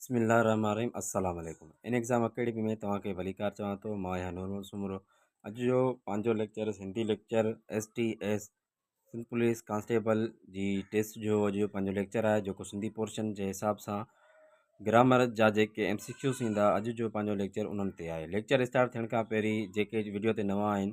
بسم الله الرحمن الرحيم السلام عليڪم ان ايگزام اڪيڊمي ۾ توهان کي ڀليڪار چوان ٿو مان آهيان نور محمد سومرو اڄ جو پنهنجو lecture Sindhi lecture S T S Sindh police constable جي ٽيسٽ جو اڄ جو پنهنجو ليڪچر آهي جيڪو سنڌي پورشن جي حساب سان گرامر جا جيڪي ايم سي ڪيوز ايندا اڄ جو پنهنجو ليڪچر انهن تي آهي ليڪچر اسٽارٽ ٿيڻ کان پهرين جيڪي ويڊيو تي نوان آهن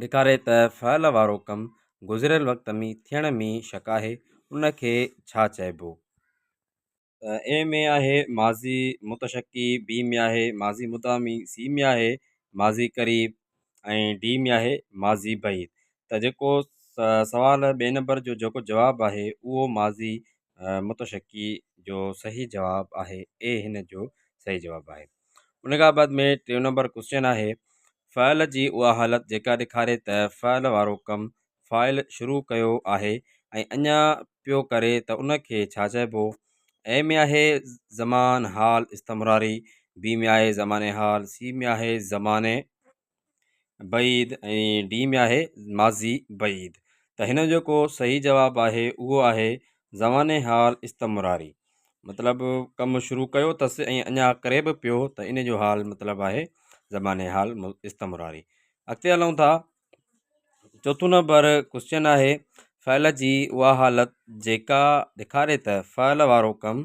ڏيکاري ته فعل وارو ڪم گذريل وقت ۾ ٿيڻ ۾ شڪ آهي ان کي ڇا چئبو؟ ته اي ۾ آهي ماضي متشڪي، بي ۾ آهي ماضي مدامي، سي ۾ آهي ماضي قريب ۽ ڊي ۾ آهي ماضي بعيد ته جيڪو سوال ٻئي نمبر جو جيڪو جواب آهي اهو ماضي متشڪي جو صحيح جواب آهي اي هن جو صحيح جواب آهي ان کان بعد ۾ ٽيون نمبر ڪوشچن آهي فعل جي اها حالت جيڪا ڏيکاري ته فعل وارو ڪم فائل شروع ڪيو آهي ۽ اڃا پيو ڪري ته ان کي ڇا چئبو اي ۾ آهي زمان حال استمراري بي ۾ آهي زمان حال سي ۾ آهي زمان بعيد ۽ ڊي ۾ آهي ماضي بعيد ته هن جو ڪو صحيح جواب آهي اهو آهي زمان حال استمراري مطلب ڪم شروع ڪيو اٿس ۽ اڃا ڪري به پيو ته ان جو حال مطلب آهي زمان حال استمراري اڳتي هلون ٿا چوٿون نمبر ڪوشچن آهي فعل جي اها حالت جيڪا ڏيکاري ته فعل وارو ڪم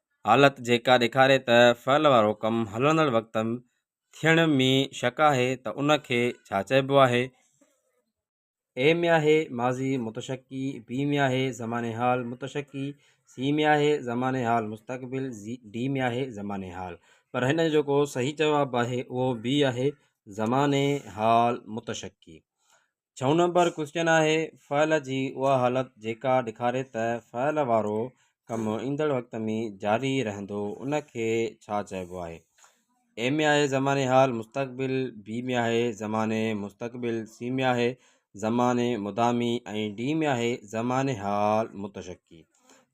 حالت جيڪا ڏيکاري ته فعل وارو ڪم هلندڙ وقت ٿيڻ ۾ شڪ آهي ته ان کي ڇا چئبو آهي؟ اي ۾ آهي ماضي متشڪي، بي ۾ آهي زمان حال متشڪي، سي ۾ آهي زمان حال مستقبل، ڊي ۾ آهي زمان حال. پر هن جو جيڪو صحيح جواب آهي اهو بي آهي زمان حال متشڪي. ڇهون نمبر ڪوئسچن آهي فعل جي اها حالت جيڪا ڏيکاري ته فعل وارو ڪم ايندڙ وقت ۾ جاري رهندو ان کي ڇا چئبو آهي اي ۾ آهي زماني حال مستقبل بي ۾ آهي زماني مستقبل سي ۾ آهي زماني مدامي ۽ ڊي ۾ آهي زماني حال متشڪي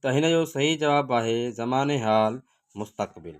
ته هن جو صحيح جواب آهي زماني حال مستقبل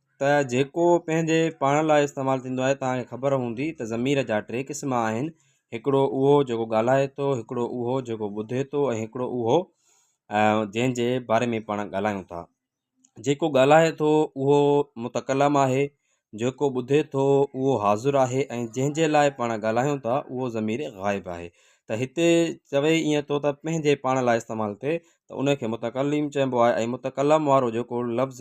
ته جيڪو پنهنجي پاڻ لاء استعمال ٿيندو آهي توهان کي خبر هوندي ته ضمير جا ٽي قسم آهن هڪڙو اهو جيڪو ڳالهائي ٿو هڪڙو اهو جيڪو ٻڌي ٿو ۽ هڪڙو اهو جنهن جي باري ۾ پاڻ ڳالهايون ٿا جيڪو ڳالهائي ٿو اهو متڪلم آهي جيڪو ٻڌي ٿو اهو حاضر آهي ۽ جنهن جي لاء پاڻ ڳالهايون ٿا اهو ضمير غائب آهي ته هتي چوي ائين ٿو ته پنهنجي پاڻ لاء استعمال ٿئي ته ان کي متڪلم چئبو آهي ۽ متڪلم وارو جيڪو لفظ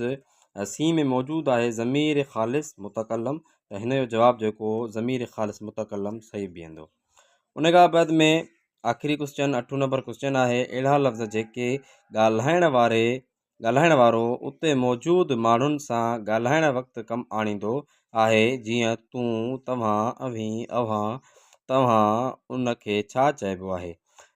سين ۾ موجود آهي ضمير خالص متڪلم ته هن جو جواب جيڪو ضمير خالص متڪلم صحيح بيهندو ان کان بعد ۾ آخري ڪوشچن اٺون نمبر ڪوشچن آهي اهڙا لفظ جيڪي ڳالهائڻ واري ڳالهائڻ وارو اتي موجود ماڻهن سان ڳالهائڻ وقت ڪم آڻيندو آهي جيئن تون توهان اوهين اوهان توهان ان کي ڇا چئبو آهي